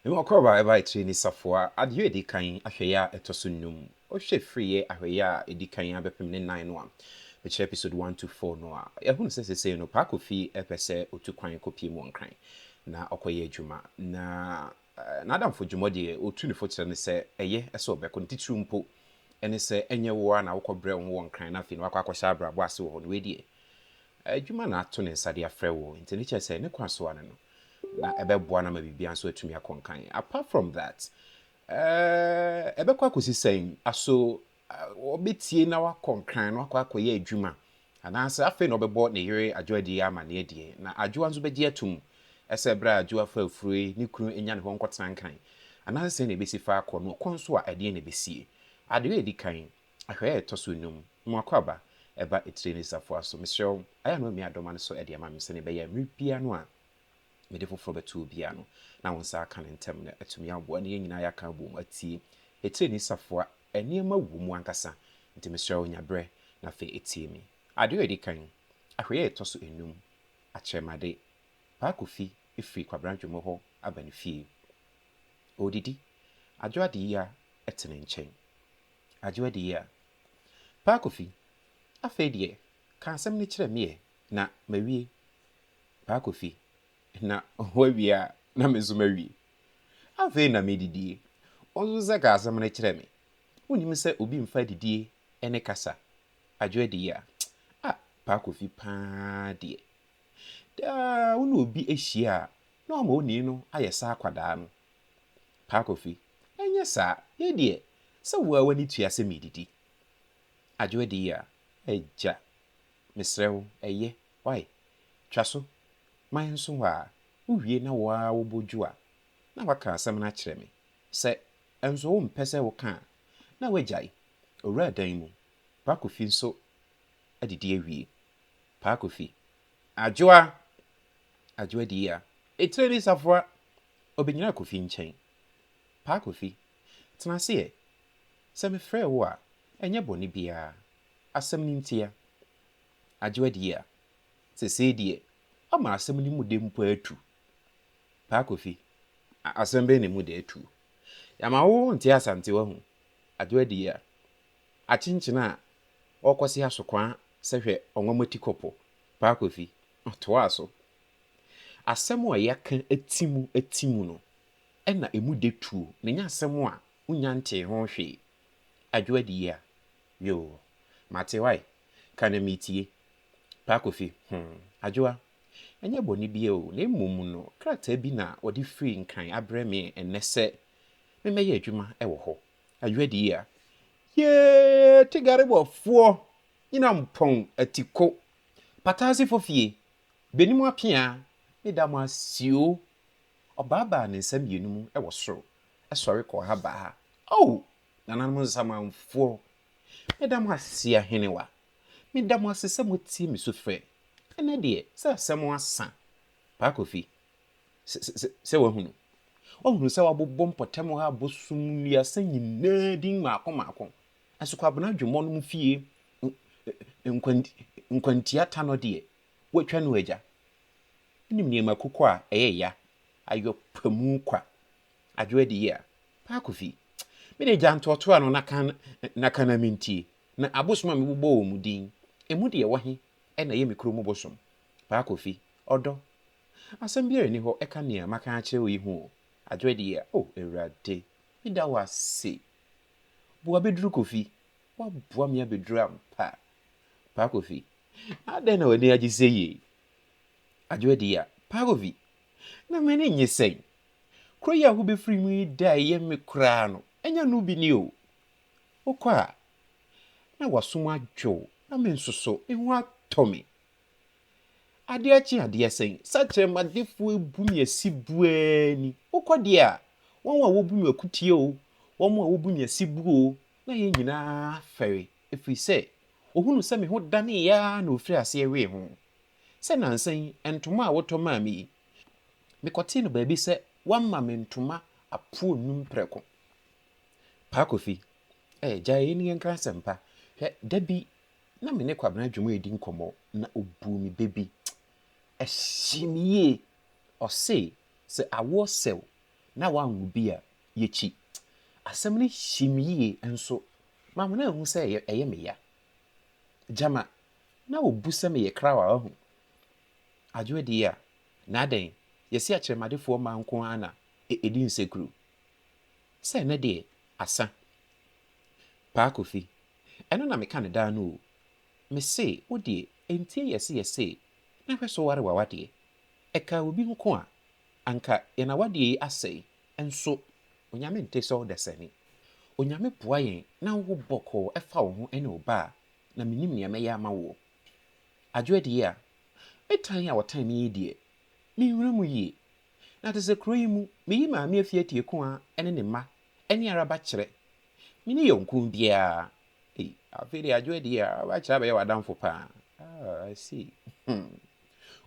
Emi Ɔkɔrba Ɛba Akyire Ni Safoa Adeyɔ Edi Kan Ahwɛyɛ A Ɛtɔ So Nnum Wohwɛ Firi Yɛ Ahwɛyɛ A Edi Kan A Bɛpem Ne Nnan No A Mekyerɛ Episode One To Four No A Yɛahunu Sɛ Sesei No Paa Kofi Ɛpɛ Sɛ Otu Kwan Kɔpie Mu Wɔ Nkran Na Ɔkɔ Yɛ Adwuma Na N'adamfo Dwumɔ Deɛ Otu Ne Fo Kyerɛ No Sɛ Ɛyɛ Sɛ Ɔbɛkɔ Ne Titiriw Mpo Ɛne Sɛ Ɛnyɛ Wo Ara Na Wokɔ Brɛ Wo Ho Wɔ Nkran Na Afei Na Wakɔ Akɔhyɛ Abrabɔ Ase Wɔ Hɔ No Wei Deɛ Adwuma Na Ato Ne Nsa De Afrɛ Wo Nti Ne Kyerɛ Sɛ Ne Kwan So Ano No na ɛbɛboa no ama biribiara nso atumi akɔ nkan. Apart from that, eh, ɛbɛkɔ akɔsi sɛn? Aso wɔbɛtie na wakɔ nkran na wakɔ akɔyɛ adwuma anaasɛ afei na ɔbɛbɔ ne yere adwoa die amanneɛ deɛ na adwoa nso bɛgye atom ɛsɛ berɛ a adwoa fa afuro yi ne kunu nya ne hɔ nkɔtena nkran anaasɛ sɛn na ɛbɛsi fa akɔ no ɔkɔn so a ɛdeɛ na ɛbɛsie adeɛ a ɛdi kan Ahwɛyɛ a ɛtɔ so nnum, Mo akwaaba, ɛba etire ne safoa so. Mesrɛ wo, ayɛ a na wamia dɔm ano so de ama me, sɛdeɛ ɛbɛyɛ a mmerɛ biara no a mede foforɔ bɛto obi a no, na wo nsa aka no ntɛm, na atumi aboa, na yɛn nyinaa yɛaka abom atie etire ne safoa. Nneɛma wɔ mu ankasa, nti mesrɛ wo, nya berɛ, na afei tie me. Adeɛ a ɛdi kan, Ahwɛyɛ a ɛtɔ so nnum, Akyerɛmade, Paa Kofi firi Kwabena Dwommo hɔ aba ne fie. Ɔredidi. Adwo Adeyia te ne nkyɛn. Agye w'adi yi a. Pa Kofi, afei deɛ, ka asɛm no kyerɛ meɛ, na mawie. Pa Kofi, Na woawie a, na me nso mawie. Afei na medidie. Wo nso sɛ ka asɛm no kyerɛ me. Wonnim sɛ obi mfa adidie ne kasa. Agye w'adi yi a. Ah, Pa Kofi pa ara deɛ. Daa wo ne obi ahyia a, na wama onii no ayɛ sɛ akwadaa no. Pa Kofi, Anyɛ saa, me deɛ, sɛ wo ara w'ani tua sɛ meredidi. Adwoa dii a, Agya, mesrɛ wo, ɛyɛ, wai, twa so, ma yɛnso hɔ ara, wowie na wo ara wobɔ dwo a, na woaka asɛm no akyerɛ me. Sɛ nso wompɛ sɛ woka a, na woagyae. Owuraa dan mu. Pa Kofi nso adidi awie. Pa Kofi. Adwoa! Adwoa dii a, Etire ne safoa Ɔbɛnyinaa Kofi nkyɛn. Paa Kofi, tena ase ɛ. Sɛ mefrɛɛ wo a, ɛnyɛ bɔne biara. Asɛm no ntia. Adwoa deɛ a, sesei deɛ ɔma asɛm no mu dɛ mpo ara tu. Paa Kofi, asɛm bɛn na emu dɛ tu? Yɛama wo nte Asante wahu. Adwoa deɛ a, akyenkyene a ɔrekɔse asokwaa sɛ hwɛ ɔnwamati kɔpɔ. Paa Kofi, ɔtoaa so. Asɛm a yɛka ti mu ti mu no na ɛmu dɛ tuo na ɛnyɛ asɛm a wonya ntee ho hwee. Adwo adie a, yoo, mate wai, ka na metie. Pa Kofi, hmm, Adwoa, ɛnyɛ bɔne biara o, na mmom no krataa bi na wɔde firi Nkran abrɛ me ɛnnɛ sɛ memmɛyɛ adwuma wɔ hɔ. Adwo adie a, yee, Tegareboafoɔ, Nyinampɔn, Atiko, Pataasefo fie, Beni mo apea ne da mo asio. Ɔbaabaa ne nsa mmienu mu wɔ soro sɔre kɔɔ ha baa ha. Oh! Nananom Nsamanfoɔ, meda mo ase ahenewa. Meda mo ase sɛ motie me sufrɛ. Ɛnnɛ deɛ, sɛ asɛm asa. Paa Kofi, sɛ, sɛ, sɛ, sɛ woahunu. Woahunu sɛ wɔabobɔ mpɔtam hɔ abosom nnuasa nyinaa din mmaako mmaako. Asokwabena dwemmɔ nom fie nkwantia ta no deɛ watwa no agya. Wonim nneɛma kuku a ɛyɛ ya, ayɔ pamu kwa, adwo adiyɛ a. Paa Kofi, me deɛ gya ntoatoa no na ka na ka na mentie. Na abosom a mebobɔ wɔn din, ɛmu deɛ ɛwɔ he na ɛyɛ me kuro mu bosom? Paa Kofi, ɔdɔ. Asɛm biara nni hɔ ɛka nea maka akyerɛ wo yi ho o, adwo adiyɛ a. O Awurade, meda wo ase. Boa bɛduru Kofi. Woaboa me abɛduru ampa. Pa Kofi, adɛn na w'ani agye sei ei? Adwoa Dia, Pa Kofi, na m'ani nnye sɛn? Kuro yi a wobɛfiri mu yi da a ɛyɛ me koraa no, ɛnyɛ ɛno bi ni o. Wokɔ a, na w'asom adwo wo, na me nso so, me ho atɔ me. Adeɛ kye adeɛ sɛn, sɛkyerɛmadefoɔ abu me asi bu ara ni. Wokɔ deɛ a, wɔn a wɔbu me akutie o, wɔn a wɔbu me asi bu o, na yɛn nyinaa fɛre, ɛfiri sɛ wɔhunuu sɛ me ho daneeɛ ara na wɔfirii aseɛ wee ho. Sɛ nnansa yi, ntoma a wotɔ maa me yi, mekɔtee no baabi sɛ wɔama me ntoma apoɔ nnum prɛko. Paa Kofi, Ɛɛ, gyae yei ne yɛnka asɛmpa. Hwɛ, da bi na me ne Kwabena Adwom redi nkɔmmɔ na ɔbuu me bɛ bi. Ɛhyee me yie. Ɔse, sɛ awoɔ sɛ wo na woanwo bi a, yɛkyi. Asɛm no hyee me yie nso ma me na mahu sɛ ɛyɛ me ya. Gyama na ɔbu sɛ meyɛ krawa wahu. Adwoa die a, na adɛn, yɛse akyerɛmadefoɔ mma nko ara na ɛdi nsekuro. Sɛ ɛnnɛ deɛ, asa. Paa Kofi, Ɛno na meka no daa no o. Me se wo deɛ ɛntie yɛ se yɛ se na hwɛ so ware w'awadeɛ. Ɛkaa obi nko a, anka yɛn awadeɛ yi asɛe nso Onyame nte sɛ ɔdasani. Onyame boa yɛn na wo ho bɔkɔɔ ɛfa wo ho ɛne wo ba a, na me nim nea mɛyɛ ama woɔ. Adwoa die a, me tan a ɔtan me yi deɛ, me nhunu mu yie. Na te sɛ kuro yi mu, me yi maame afie atie Koa ɛne ne mma ɛne Araba kyerɛ Me ne yɔnko biara. Ei, afei deɛ adwoɛ deɛ a, w'akyerɛ abɛyɛ w'adamfo paa. Ah, I see. Hmm.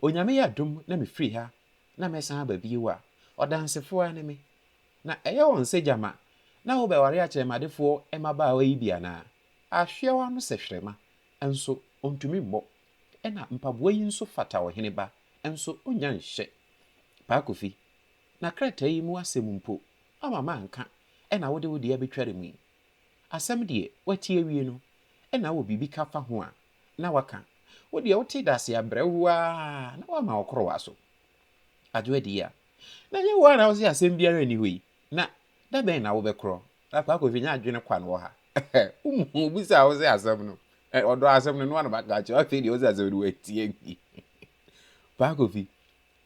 Onyame yɛ adom na me firi ha na mɛsan aba bio a, ɔdansefoɔ ara ne me. Na ɛyɛ wɔn sɛ gyama na wo bɛware akyerɛmadefoɔ mmabaawa yi bi anaa? Ahweɛ w'ano sɛ hwerɛma, nso ɔntumi mmɔ. Ɛna mpaboa yi nso fata ɔhene ba, nso ɔnnya nhyɛ. Paa Kofi, Na krataa yi mu asɛm mpo, woama manka, ɛnna wode wo de abɛtware mu yi? Asɛm deɛ, woate awie no, ɛnna wowɔ biribi ka fa ho a, na woaka. Wo deɛ, wote dase abrɛwoo ara, na woama wo korowa so. Adwo adi yi a, na ɛnyɛ wo ara na wose asɛm biara nni hɔ yi, na da bɛn na wobɛkorɔ? Akwaa Kofi, nyɛ adwene kwa na wɔ ha. Wohu wobisaa wo sɛ asɛm no, ɔdɔɔ asɛm no, noa na maka akyerɛ wo, afei deɛ wose asɛm no woantie nti. Paa Kofi.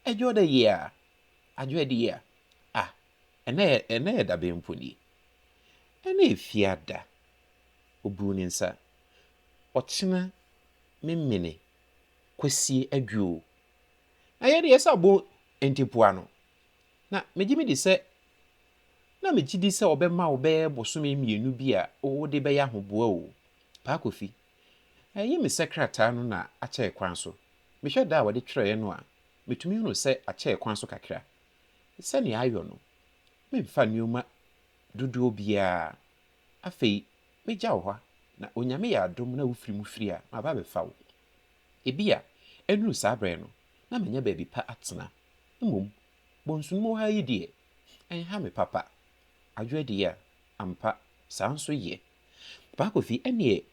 Adwo da yie a, adwo adi yie a, ah, ɛnɛ yɛ, ɛnɛ yɛ da bɛn mpo nie? Ɛnɛ yɛ fiada. Ɔbuu ne nsa. Ɔkyena memene kwasie adwo o. Na yɛn deɛ yɛsɛ abɔ ntepoa no. Na megye medi sɛ, na megye di sɛ ɔbɛma wo bɛyɛ bosome mmienu bi a wode bɛyɛ ahoboa o, Paa Kofi. Ɛyɛ me sɛ krataa no na akyɛe kwan so. Mehwɛ da a wɔde twerɛeɛ no a, metumi hunu sɛ akyɛe kwan so kakra. Sɛdeɛ ayɔ no, memfa nneɛma dodoɔ biara. Afei, mɛgya wo hɔ na Onyame yɛ adom na wofiri mu firi a, maba abɛfa wo. Ebia, ɛnnuru saa berɛ no, na manya baabi pa atena. Mmom, bɔnsonum wɔ ha yi deɛ, ɛnha me papa. Adwoa di a, ampa, saa nso ye. Baakofi, Ɛnneɛ,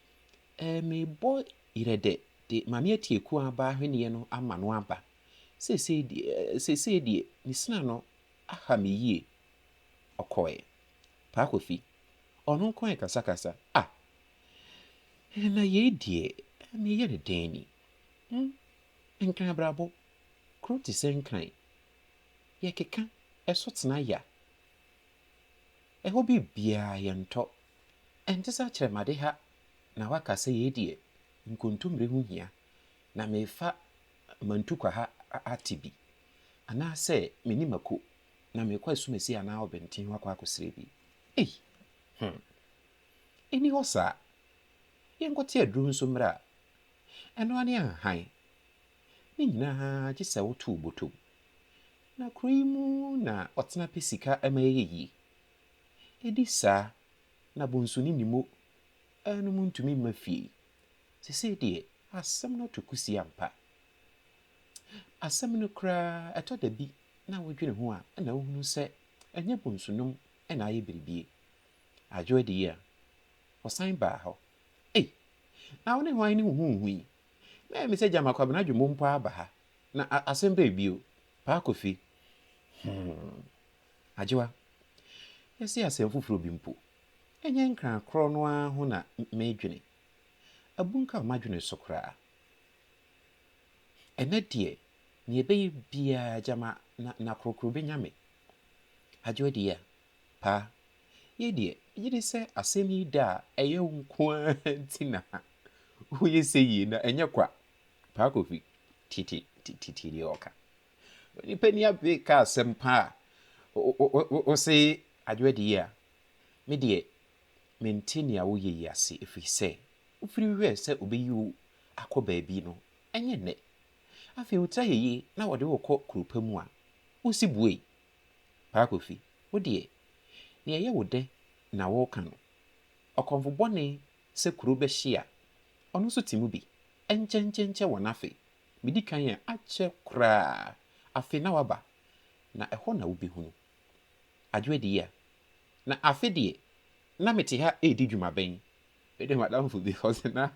eh, mebɔ yerɛ dɛ de Maame Atie Kuaaba ahweneɛ no ama no aba. Seesei deɛ, eh, seesei deɛ ne sina no aha me yie. Ɔkɔɔɛ. Baakofi, Ɔno nko ara kasakasa. Ah! Eh, na yei deɛ, eh, meyɛ no dɛn ni? Hm, Nkran abrabɔ, kuro te sɛ Nkran. Yɛkeka, ɛso tena ya, Ɛhɔ biribiara yɛntɔ. Ɛnte sɛ akyerɛmade ha na woaka sɛ yei deɛ nkontommire ho hia na merefa Mantukwa ha ate bi, anaasɛ me ne Mako na merekɔ Asumasi anaa Ɔbɛnten hɔ akɔ akɔsrɛ bi. Ei! Hum! Ɛnni hɔ saa. Yɛnkɔte aduro nso mmrɛ a, ɛno ara ne anhan. Ne nyinaa gye sɛ woto wo bɔtɔ mu. Na kuro yi mu na ɔtena pɛ sika ma ɛyɛ yie. Ɛdi saa na bonsu ne ne mo nom ntumi mma fie yi. Sesei deɛ asɛm no to kusi ampa. Asɛm no koraa ɛtɔ da bi na wodwene ho a na wohunu sɛ ɛnyɛ bonsu nom na ayɛ biribie. Adwo adi yi a ɔsan baa hɔ. Ei! Na wo ne hwan ne huhuuhu yi? Na ɛyɛ me sɛ gyama Kwabena Dwombo mpo aba ha. Na asɛm bɛn bio, Paa Kofi? Hoo. Agyewa, yɛse asɛm foforɔ bi mpo, ɛnyɛ Nkran korɔ no ara ho na meedwene. Abunkam m'adwene so koraa. Ɛnnɛ deɛ, nea ɛbɛyɛ biara gyama na Nakrokro bɛnya me. Agyewa deɛ a, Paa, yei deɛ, megye di sɛ asɛm yi da a ɛyɛ wo nko ara nti na woyɛ sɛ yie na ɛnyɛ kwa. Paa Kofi, titi titi deɛ ɔka. Onipa ni abee ka asɛm paa. Wose adwoa di yie a, me deɛ mente nea woyɛ yi ase ɛfiri sɛ wofiri hwɛɛ sɛ ɔbɛyi wo akɔ baabi no ɛnyɛ nnɛ. Afei wo tra yɛyie na wɔde wo kɔ kuro pa mu a, wosi buei. Paa Kofi, wo deɛ, deɛ ɛyɛ wo dɛ na woreka no. Ɔkɔmfo bɔne Sɛ kuro bɛhye a, ɔno nso te mu bi. Ɛnkyɛnkyɛnkyɛ wɔn afe. Medi kan a, akyɛ koraa. Afe na waba, na ɛhɔ na wobɛhunu. Adwoa di a, na afe deɛ, na mete ha redi dwuma bɛn? Me de m'adamfo bi, ɔse na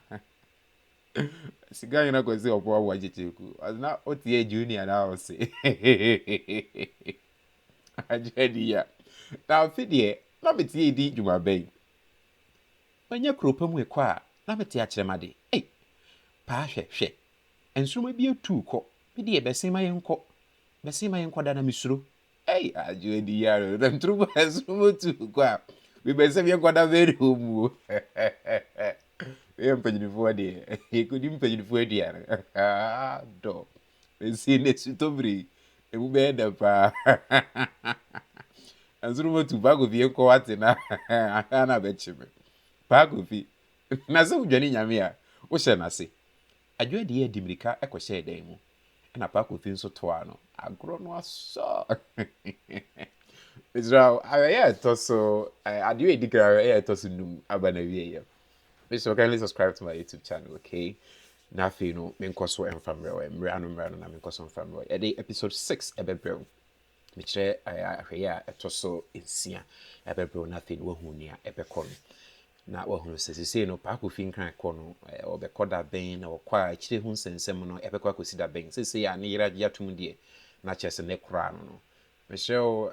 sika nyina kɔsi ɔpɔ aboa nkyekyere ku. Ɔse na wote yɛ junior na wose Adwoa di a, na afe deɛ, na mete redi dwuma bɛn? Manya kurow pa mu ɛkɔ a na mete akyerɛ m'ade ei Paa hwɛ, hwɛ nsoromma bi atuu kɔ Me deɛ bɛse ma yɛnkɔ, bɛse ma yɛnkɔ da na mesuro ei Adwo adi yare o, na meturu baa nsoromma tuu kɔ a Me bɛse me yɛnkɔ da mɛre hɔ mu o Wei yɛ mpanyinfoɔ deɛ, yɛkɔdi mpanyinfoɔ aduane Haa dɔ. Ese ne sutobiri emu bɛyɛ dɛ paa Nanso no motu Pa Kofi nkɔ wate na anka na bɛkye me Pa Kofi Na sɛ wodwane Nyame a wohyɛ no ase Adwo adie de mirika kɔhyɛɛ dan mu Ɛna Pa Kofi nso toaa no Agorɔ no asɔ Mesrɛ wo awɛ yɛ ɛtɔ so Adwo a ɛdi kan awɛ yɛ ɛtɔ so num aba n'awieɛ yam. Please so kindly subscribe to my YouTube channel, okay? Na afei no, menkɔ so mfa mmerɛ wɔ mmerɛ ano mmerɛ ano na menkɔ so mfa mmerɛ wɔ. Yɛde episode six ɛbɛbrɛ wo. Mekyerɛ ahwɛyɛ a ɛtɔ so nsia ɛbɛbrɛ wo na afei no woahu nea ɛbɛkɔ no. Na wahunu sɛ sesei no paako fi nkran kɔ no ɔbɛkɔ da bɛn na wɔkɔ a akyire ho nsɛnsɛm no ɛbɛkɔ akɔsi da bɛn. Sesei a ne yere agye atom deɛ na kyerɛ sɛ ne koraa no no Mesrɛ wo,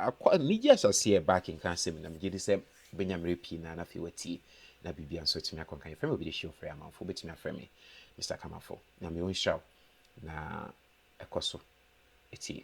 akɔ anigye asase a ɛba akenkan asɛm yi, na megye di sɛ wobɛnya mmerɛ pii na afei woatie, na biribiara nso atumi akɔ nkan. Yɛfrɛ me Obi de Hye Ofori Amanfo. Wobɛtumi afrɛ me Mister Kamafo. Nyame ɔnhyira wo, na kɔ so tie.